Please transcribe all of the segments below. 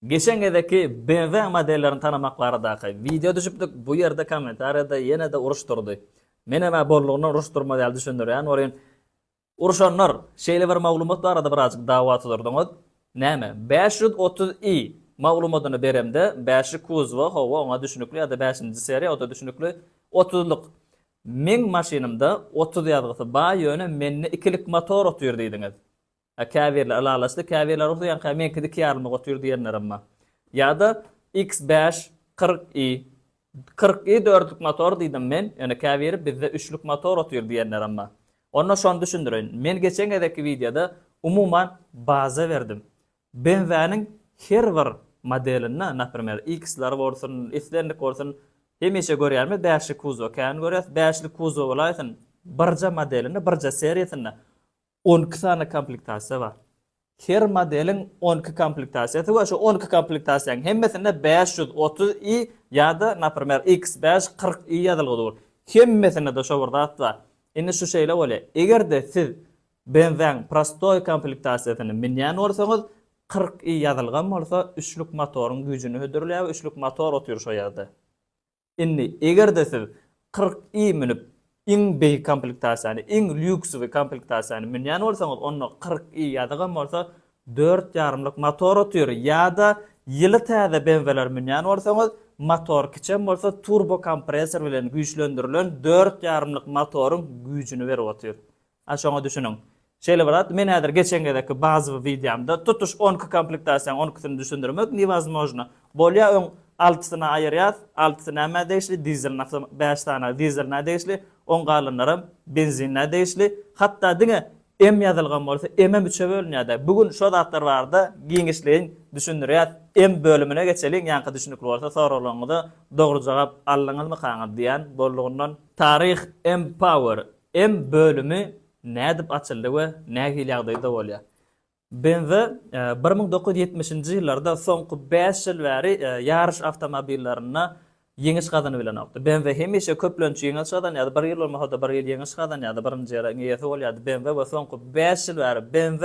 Geçen gezekki BMW modellerini tanamak baradaky wideo düşüpdik, bu ýerde kommentariýada ýene-de uruş durdy. Menem-ä bollugyndan uruş durmaz ýaly düşündirýän bolýan. Uruşanlar, şeýle bir maglumat barada birazjyk dawa tuzurdyňyz. Näme, bäş ýüz otuz i maglumadyny beremde, bäşi kuzowa, hawa, oňa düşnükli ýa-da bäşinji seriýa, o-da düşnükli, otuzlyk. Meň maşynymda otuz ýazgysy bar, ýöne mende ikilik motor otyr diýdiňiz. A käbirle ylalaşdy, käbirle rugsy ýanka meňkidi iki ýarymlyk otyr diýenlerem bar. Ýada X bäş kyrk i kyrk i dörtlük motor diýdim men, ýöne käbiri bizde üçlük motor otyr diýenlerem bar. Onda şony düşündireýin. Men geçen gezekki wideoda umuman baza berdim. Benzäniň her bir modelinde, naprimer, X-ler bolsun, islendik bolsun, hemişe görýärmi bäşli kuzow, kän görýäs, bäşli kuzow bolaýsyn, birje modelinde, birje seriýasynda On iki sany komplektasiýa bar. Her modeliň on iki komplektasiýasy we şu on iki komplektasiýanyň hemmesinde bäş ýüz otuz i ýa-da, naprimer, iks bäş kyrk i ýazylgy dur. Hemmesinde-de şo bir zat bar. Indi şu şeýle bolýar. Eger-de siz BMV-niň prostoý komplektasiýasyny münýän bolsaňyz, kyrk i ýazylgam bolsa, üçlük motoryň güýjüni hödürleýär we üçlük motor otyr şo ýerde. Indi, eger-de siz kyrk i münüp, iň beýik komplektasiýany, iň lýuksowy komplektasiýany münýän bolsaňyz, onda kyrk i ýazygam bolsa, dört ýarymlyk motor otyr, ýa-da ýyly täze BMW-ler münýän bolsaňyz, motor kiçem bolsa, turbokompressor bilen güýçlendirilen dört ýarymlyk motoryň güýjüni berip otyr. A şoňa düşüniň. Şeýle bolardy, men häzir geçen gezekki bazowy wideomda tutuş on iki komplektasiýanyň on ikisini düşündirmek newozmojno. Bolýa öň altysyny aýyrýas, altysy nämä degişli, dizelini aslym bäş sany dizelinä degişli, oň galanlaram benzinlä degişli. Hatda diňe M ýazylgan bolsa M-em üçe bölünýärde. Bu gün şo zatlar barada giňişleýin düşündirýäs. M bölümine geçeliň, ýaňky düşünikli bolsa soraglaryňyza dogry jogap aldyňyzmykaňyz diýýän boldugyndan. Taryh M-power Em bölümi nädip açyldy we nähili ýagdaýda bolýar? BMW bir müň dokuz ýüz ýetmişinji ýyllarda soňky bäş ýyl bäri ýaryş awtomobillerinde ýeňiş gazanybilenokdy. BMW hemişe köplenç ýeňiş gazanýardy, bir ýyl bolmasa-da bir ýyl ýeňiş gazanýardy, birinji ýeriň eýesi bolýardy BMW we soňky bäş ýyl bäri BMW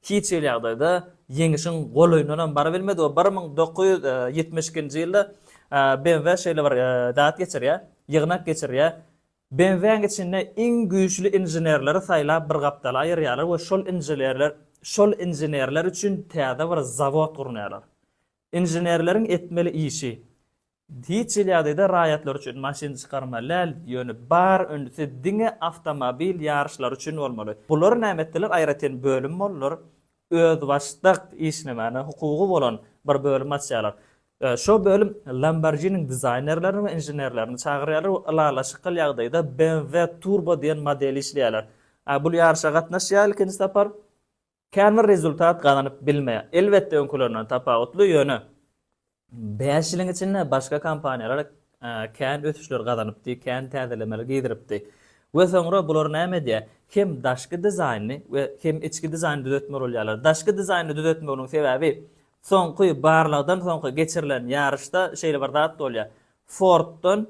hiç hili ýagdaýda ýeňişiň golaýyndan hem barybilmedi we bir müň dokuz ýüz ýetmiş ikinji ýylda BMW şeýle bir zat geçirýär, ýygnak geçirýär, Benzäň içinde iň güýçli inženerleri saýlap bir gapdala aýyrýarlar we şol injelerler şol inženerler üçin täze bir zawod gurnaýarlar. Inženerleriň etmeli işi, hiç hili ýagdaýda raýatlar üçin maşyn çykarmaly däl, ýöne bar ünsü diňe awtomobil ýaryşlary üçin bolmaly. Bular näme etdiler, aýratyn bölüm boldular, özbaşdak işlemäne hukugy bolan bir bölüm açýarlar. Şo bölüm Lamborghini-niň dizaýnerlerini we inženerlerini çagyrýarlar we ylalaşykly ýagdaýda BMW Turbo diýen modeli işleýärler. Bul ýaryşa gatnaşýar ilkinji sapar. Kän bir rezultat gazanyp bilmeýär. Elbetde öňkülerinden tapawutly, ýöne Bäş ýylyň içinde başga kompaniýalar kän ösüşler gazanypdy, kän täzelemeler girizipdi. We soňra bular näme edýär? Hem daşky dizaýny we hem içki dizaýny düzetmeli bolýarlar. Daşky dizaýny düzetmeginiň sebäbi soňky barlagdan soňky geçirilen ýaryşda şeýle bir zat bolýar, Forddan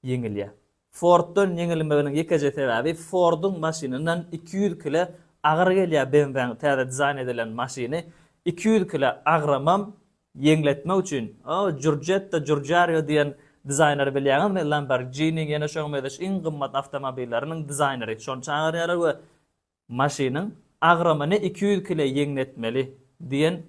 ýeňilýär. Forddan ýeňilmeginiň ýekeje sebäbi Forduň maşynyndan iki ýüz kile agyr gelýär BMWniň täze dizaýn edilen maşyny iki ýüz kile agramam ýeňletmek üçin o Jurjetta Jurjario diýen dizaýneri bilýäňizmi Lamborghiniň ýene şoňa mezeş iň gymmat awtomobilleriniň dizaýneri şony çagyrýarlar we Maşynyň agramyny iki ýüz kile ýeňletmeli diýen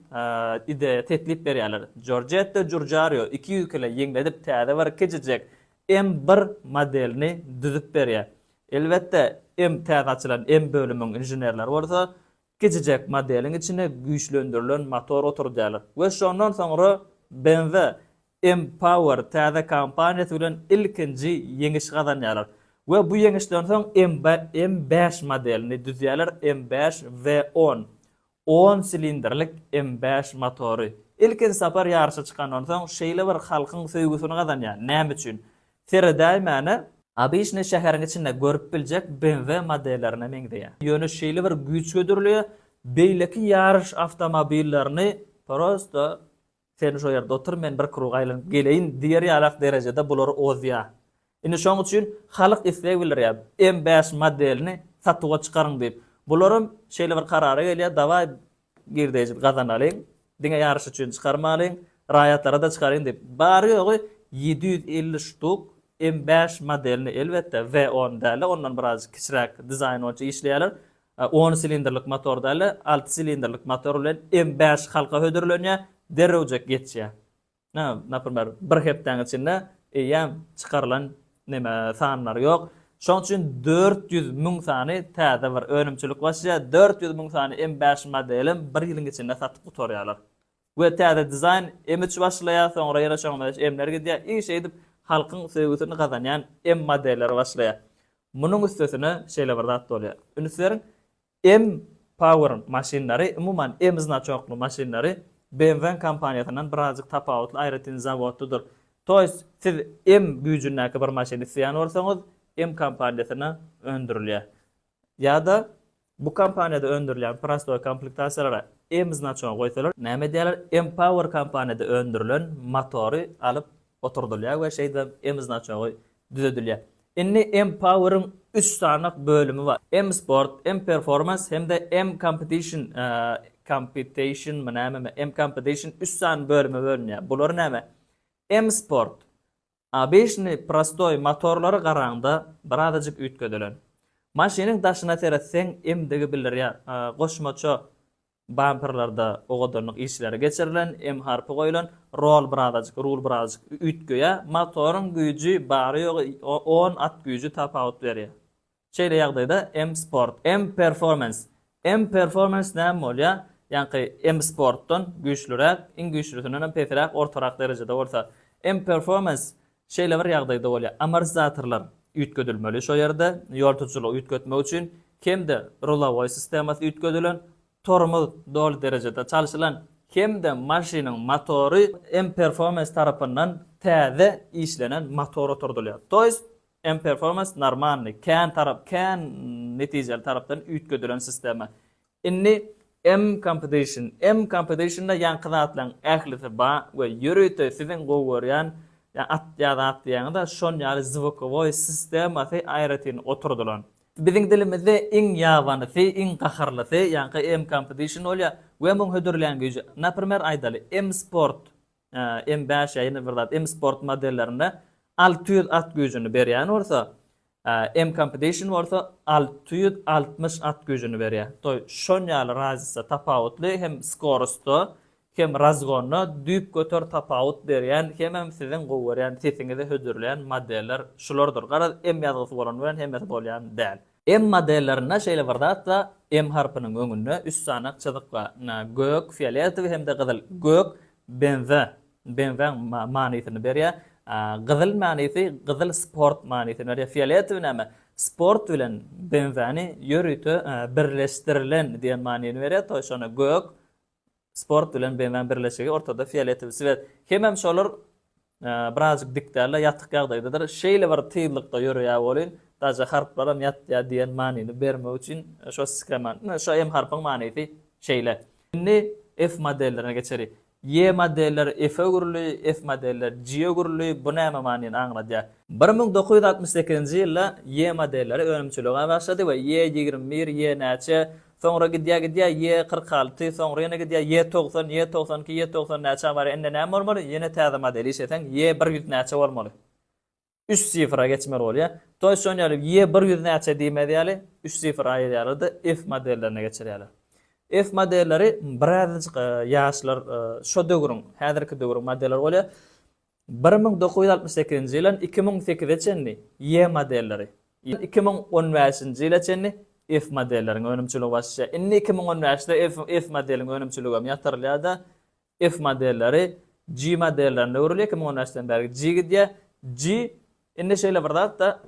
ideýa teklip berýärler. Jorjetta Jurjario iki ýüz kile ýeňledip täze bir kiçijek M bir modelini düzüp berýär. Elbetde M täze açylan M bölümiň inženerleri bolsa kiçijek modeliň içine güýçlendirilen motor oturdýarlar we şondan soňra BMW M-Power täze kompaniýasy bilen ilkinji ýeňiş gazanýarlar we bu ýeňişden soň M-bäş modelini düzýärler, M-bäş V-on, on silindrlik M-bäş motory. Ilkinji sapar ýaryşa çykandan soň şeýle bir halkyň söýgüsini gazanýar, näme üçin? Seredäýmäne, Obişni şäheriň içinde görüp biljek BMW modellerine meňzeýär. Ýöne şeýle bir güýç hödürleýär, beýleki ýaryş awtomobillerini prosto Sen şo ýerde otur, men bir krug aýlanyp geleýin diýer ýalak derejede bulary ozýa. Indi şoň üçin halyk isleg bildirýä, M bäş modelini satuwa çykaryň diýip. Bularam şeýle bir karara gelýä, dawaý girdeji gazanalyň, diňe ýaryş üçin çykarmalyň, raýatlara-da çykaryň diýip. Bary-ýogy ýedi ýüz elli ştuk M bäş modelini, elbetde, W on däl-de, ondan birazajyk kiçiräk dizaýn boýunça işleýärler. A on silindrlik motor däl-de, alty silindrlik motor bilen M bäş halka hödürlenýär, derrewjek geçýär. Na, naprimer, bir hepdäň içinde eýýäm çykarylan neme sanlary ýok. Şonuň üçin dört ýüz müň sany täze bir önümçilik başlaýar, dört ýüz müň sany M bäş modelim bir ýylyň içinde satyp gutarýarlar. we täze dizaýn imidj başlaýar, soňra ýene şoňa meňzeş emler gidýär i şeýdip halkyň söýgüsini gazanýan em modelleri başlaýar. Munuň üstesine şeýle bir zat bolýar. Üns beriň, em power maşynlary, umuman em znaçokly maşynlary BMW-nyň kompaniýasyndan birazjyk tapawutly aýratyn zawodlydyr. To ýest siz em güýjündäki bir maşyny isleýän bolsaňyz, em kompaniýasynda öndürilýär. Ýa-da bu kompaniýada öndürilýän prostoý komplektasiýalara M znaçogyny goýsalar, näme edýärler, M-Power kompaniýada öndürilen motory alyp oturdylýar we şeýdibem M znaçogy düzedilýär. Indi M-Power-yň üç sany bölümi bar, M-Sport, M-Performance hem-de M-Competition, Competition-my nämemi, M-Competition üç sany bölüme bölünýär. Bular näme? M-Sport, Obyçnyý prostoý motorlary garaňda birazajyk üýtgedilen. Maşynyň daşyna seretseň emdigi bildirýär. Goşmaça bamperlerde owadanlyk işleri geçirilen, em harpy goýulan, rol birazajyk rul birazajyk üýtgeýär. Motoryň güýji bary-ýogy on at güýji tapawut berýär. Şeýle ýagdaýda M-Sport, M-Performance, M-Performance näme bolýar? Ýaňky M-Sportdan güýçlüräk, iň güýçlüsinden hem pesiräk, ortarak derejede bolsa. M-Performance şeýle bir ýagdaýda bolýar, amortizatorlar üýtgedilmeli şo ýerde, ýol tutujulygy üýtgetmek üçin, hem-de rulowoý sistemasy üýtgedilen, tormoz doly derejede çalşylan, hem-de maşynyň motory M-Performance tarapyndan täze işlenen motor oturdylýar. To ýest, M-Performance normalny, kän tarap, kän netijeli tarapdan üýtgedilen sistema. Indi M-Competition. M-Competition-da ýaňky zatlaryň ählisi bar we ýörite siziň gowy görýän at ýa zat diýýäňiz-ä şon ýaly zvukowoý sistemasy aýratyn oturdylan. Biziň dilimizde iň ýabanysy, iň gaharlysy ýaňky M-Competition bolýar we muň hödürleýän güýji. Naprimer aýdaly, M-Sport. M bäş ýa ýene bir zat M Sport modellerinde alty ýüz at güýjüni berýän bolsa, M Competition bolsa alty ýüz altmyş at güýjüni berýär. Toý şon ýaly razisa tapawutly hem skorusda hem razgonda düýp göter tapawut berýän hemem siziň gowy görýän sesiňizi hödürleýän modeller şulardyr. Garaz M ýazgysy bolan bilen hemmesi bolýan däl. M modellerinde şeýle bir zat bar, M harpynyň öňünde üç sany ak çyzyk bar, gök, fioletowy hem-de gyzyl. Gök, benza, benzaň manysyny berýär. Gyzyl manysy, gyzyl sport manysyny berýär. Fioletowy näme? Sport bilen benzany ýörite birleşdirilen diýen manyny berýär, to şony gök, Sport bilen BMW-niň birleşigi ortada fioletowy swet. Hemem şolar birazjyk dik däldir, ýatyk ýagdaýdadyr. Şeýle bir tyzlykda ýöreýär welin, daže harplaram ýatýar diýen manyny bermek üçin şo skeman. Ine, şo M harpyň manysy şeýle. Indi F modellerine geçeli. Ýe modelleri F-e öwrüli, F modelleri G-e öwrüli. Bu näme manyny aňladýar? Bir müň dokuz ýüz altmyş sekizinji ýylda Ýe modelleri önümçilige başlady we Ýe ýigrimi bir, Ýe näçe, Soňra gidýä-gidýä ýe kyrk alty, soňra ýene gidýä ýe togsan, ýe togsan iki, ýe togsan näçä barýa, indi näme bolmaly, ýene täze model işleseň ýe bir ýüz näçe bolmaly? Üç sifra geçmeli bolýa. Toýs şon ýaly ýe bir ýüz näçe diýmez ýaly üç sifr aýyrýarlar-da F modellerine geçirýärler. F modelleri birazajyk ýaşlar şo döwrüň, häzirki döwrüň modelleri bolýa. Bir müň dokuz ýüz altmyş sekizinji ýyldan iki müň sekize çenli Y modelleri, iki müň on bäşinji ýyla çenli F modelleriň önümçiligi başlaýar. Indi iki müň on bäşde F F modeliň önümçiligi hem ýatyrylýar-da, F modelleri G modellerine öwrülýär, iki müň on bäşden bäri G gidýär. G, indi şeýle bir zat-da,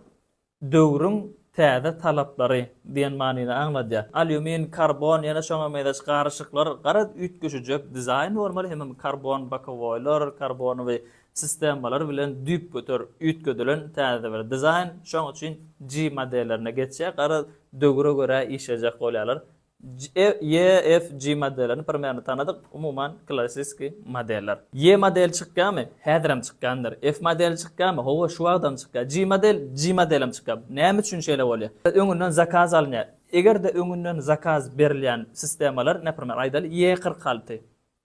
Döwrüň täze talaplary diýen manyny aňladýar. Alýumin, karbon, ýene şoňa mezeş garyşyklar, garaz, üýtgeşijek dizaýn bolmaly hemem karbon bokowoýlar, karbonowy sistemalar bilen düýpgöter üýtgedilen täze bir dizaýn. Şoň üçin G modellerine geçýär, garaz, döwre görä işlejek bolýarlar. JFG modellerini bir mäne tanadyk, umuman klassiski modeller. J modeli çykýamy? Häzirem çykýandyr. F modeli çykýamy? Hawa, şu wagtam çykýar. G model, G modelem çykýar. Näme üçin şeýle bolýar? Öňünden zakaz alynýar. Eger-de öňünden zakaz berilýän sistemalar, naprimer, aýdaly, J kyrk alty.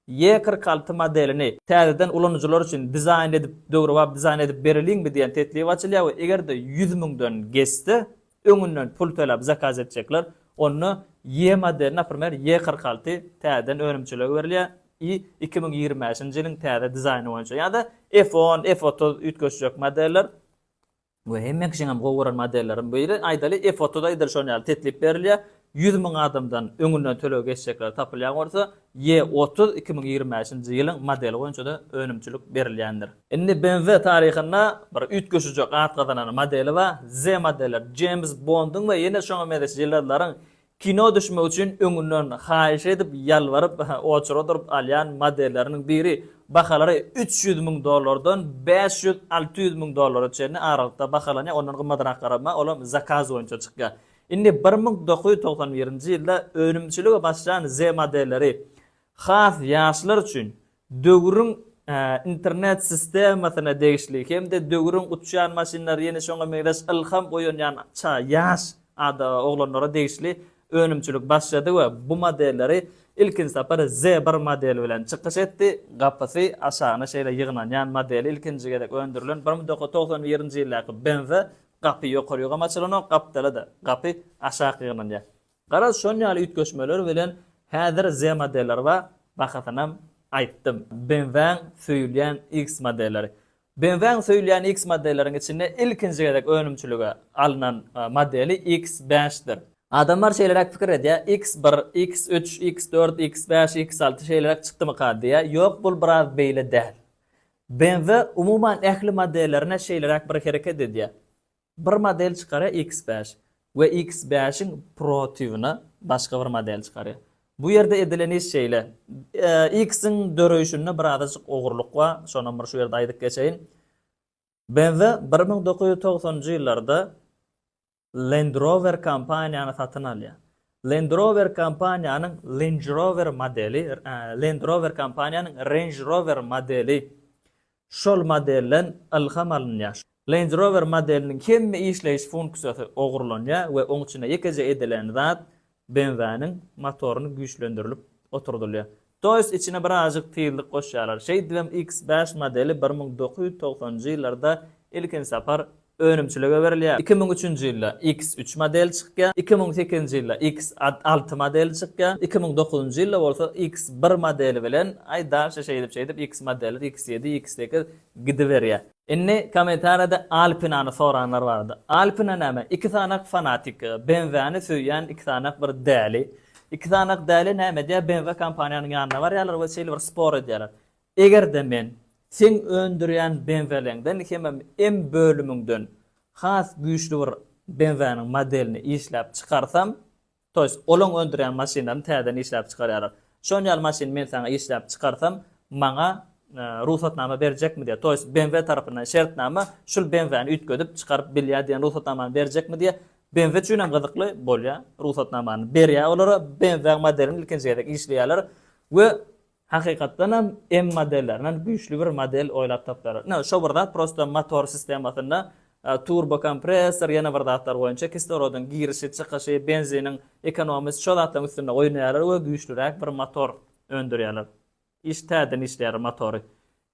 Ýe kyrk alty modelini täzeden ulanyjylar üçin dizaýn edip döwrebap dizaýn edip bereliňmi diýen teklip açylýar we eger-de ýüz müňden geçse öňünden pul töläp zakaz etjekler onda Ýe modeli naprimer Ýe kyrk alty täzeden önümçiligi berilýär i iki müň ýigrimi bäşinji ýylyň täze dizaýny boýunça ýa-da F on F otuz üýtgeşjek modeller Bu hemme kişiňem gowy gören modellerim biri aýdaly efotyda edil şon ýaly teklip berilýä ýüz müň adamdan öňünden töleg geçjekler tapylýan bolsa ýe otuz iki müň ýigrimi bäşinji ýylyň modeli boýunçada önümçilik berilýändir. Indi BMW taryhynda bir üýtgeşijek at gazanan modeli ba Z modeller Jeýms Bondyň we ýene şoňa mezeş ýyldyzlaryň Kino düşmek üçin öňünden haýyş edip, ýalbaryp, oçura durup alýan modelleriniň biri bahalary üç ýüz müň dollardan bäş ýüz, alty ýüz müň dollara çenli aralykda bahalanýar, ondan gymmadyrak garama, olam zakaz boýunça çykýar. Indi bir müň dokuz ýüz togsan birinji ýylda önümçilige başlan Z-modelleri has ýaşlar üçin döwrüň internet sistemasyna degişli hem-de döwrüň uçýan maşynlary ýene şoňa meňzeş ylham oýanýan ça ýaş ada oglanlara degişli önümçilik başlady we bu modelleri ilkinji sapar Z bir modeli bilen çykyş etdi, gapysy aşagyna şeýle ýygnanýan modeli ilkinji gezek öndürilen bir müň dokuz ýüz togsan birinji ýyldaky Benz-a gapy ýokary ýuwgam açylanok, gapdala-da gapy aşak ýygnanýar. Garaz şon ýaly üýtgeşmeler bilen häzir Z modeller bar, bahasynam aýtdym. BMW-iň söýülýän X modelleri. BMW-iň söýülýän X modelleriň içinde ilkinji gezek önümçilige alnan modeli X bäş dir. Adamlar şeýleräk pikir edýär, X bir, X üç, X dört, X bäş, X alty şeýleräk çykdymyka diýýär, ýok bul biraz beýle däl. BMW umuman ähli modellerine şeýleräk bir hereket edýär. Bir model çykarýar X bäş we X bäşiň protybyna başga bir model çykarýar. Bu ýerde edilen iş şeýle, X-iň döreýşinde birazajyk ogurlyk bar, şonam bir şu ýerde aýdyp geçeýin. BMW bir müň dokuz ýüz togsanynjy ýyllarda Land Rover kompaniýany satyn alýar. Land Rover kompaniýanyň Lange Rover modeli, Land Rover kompaniýanyň Range Rover modeli Şol modelden ylham alynýar. Range Rover modeliniň hemme işleýiş funksiýasy ogurlanýar we oň içinde ýekeje edilen zat BMW-niň motoryny güýçlendirilip oturdylýar. To jest içine birazjyk tizlik goşýarlar. Şeýdibem X bäş modeli bir müň dokuz ýüz togsanynjy ýyllarda ilkinji sapar önümçilige berilýär. Iki müň üçünji ýylda Iks üç modeli çykýar, iki müň sekizinji ýylda Iks alty modeli çykýar, iki müň dokuzynjy ýylda bolsa Iks bir modeli bilen, aý dalşe şeýdip şeýdip Iks modelleri Iks ýedi, Iks sekiz gidiberýär. Indi kommentariýada Alpinany soranlar bardy. Alpina näme? Iki sanak fanatik, BMW-ni söýýän iki sanak bir däli. Iki sanak däli näme edýär? BMW kompaniýanyň ýanyna barýarlar we şeýle bir spor edýärler. Eger-de men seň öndürýän BMW-ňden hemem M bölümiňden has güýçli bir BMW-niň modelini işläp çykarsam, to ýest, olaň öndürýän maşynlaryny täzeden işläp çykarýarlar. Şon ýaly maşyny men saňa işläp çykarsam, maňa rugsatnama berjekmi diýýär. To ýest, BMW tarapyndan şertnama şul BMW-ni üýtgedip çykaryp bilýär diýen rugsatnamany berjekmi diýýär. BMW üçin hem gyzykly bolýar. Rugsatnamany berýär olara. BMW-niň modelini ilkinji gezek işleýärler we Hakykatdan hem M modellerinden güýçli bir model oýlap tapdylar. Ine, şo bir zat prosto motor sistemasynda turbo kompressor, ýene bir zatlar boýunça kislorodyň girişi, çykyşy, benziniň ekonomisi şo zatlaryň üstünde oýnaýarlar we güýçliräk bir motor öndürýärler. Iş täzeden işleýärler motory.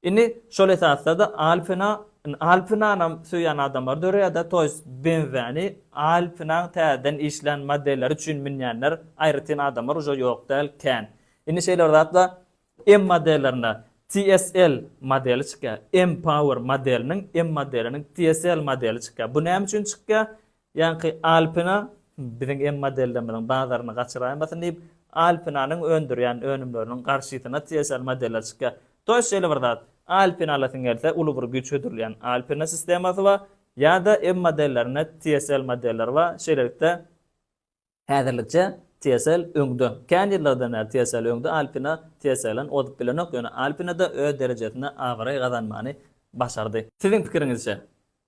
Indi şol esasda-da Alpina, indi Alpinanam söýýän adamlary döreýär-de, to ýest BMW-ni Alpinaň täzeden işlän modelleri üçin münýänler, aýratyn adamlar uje ýok däl, kän. Indi şeýle bir zat bar, M modellerinde TSL modeli çykýar, M-Power modeliniň M modeliniň TSL modeli çykýar. Bu näme üçin çykýar? Ýaňky Alpina biziň em modellerimiziň bazaryny gaçyraýmasyn diýip, Alpinanyň öndürýän önümleriniň garşysyna TSL modeller çykýar. Toýs şeýle bir zat. Alpina alasyň gelse, uly bir güýç hödürleýän Alpina sistemasy bar, ýa-da em modellerinde TSL modeller bar, şeýlelikde, Häzirlikçe TSL öňde. Kän ýyllardan bäri TSL öňde, Alpina TSL-den ozup bilenok, ýöne Alpina-da öz derejesinde abraý gazanmany başardy. Siziň pikiriňizçe,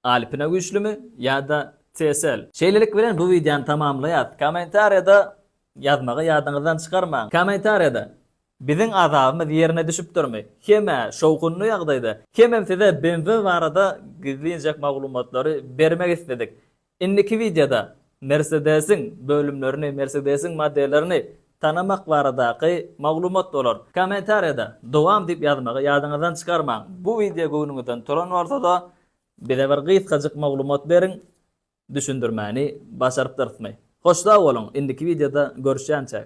Alpina güýçlümi ýa-da TSL? Şeýlelik bilen bu wideony tamamlaýas. Kommentariýada ýazmagy ýadyňyzdan çykarmaň. Kommentariýada, Biziň azabymyz ýerine düşüpdirmi? Hem-ä şowhunly ýagdaýda. Hemem size BMW barada gizlinjek maglumatlary bermek isledik. Indiki wideoda Mersedesiň bölümlerini, Mersedesiň modellerini tanamak baradaky maglumat bolar. Kommentariýada Dowam diýip ýazmagy ýadyňyzdan çykarmaň. Bu wideo göwnüňizden turan bolsada bize bir gysgajyk maglumat beriň, düşündirmäni başarypdyrsmy. Hoş sag boluň, indiki wideoda görüşýänçäk.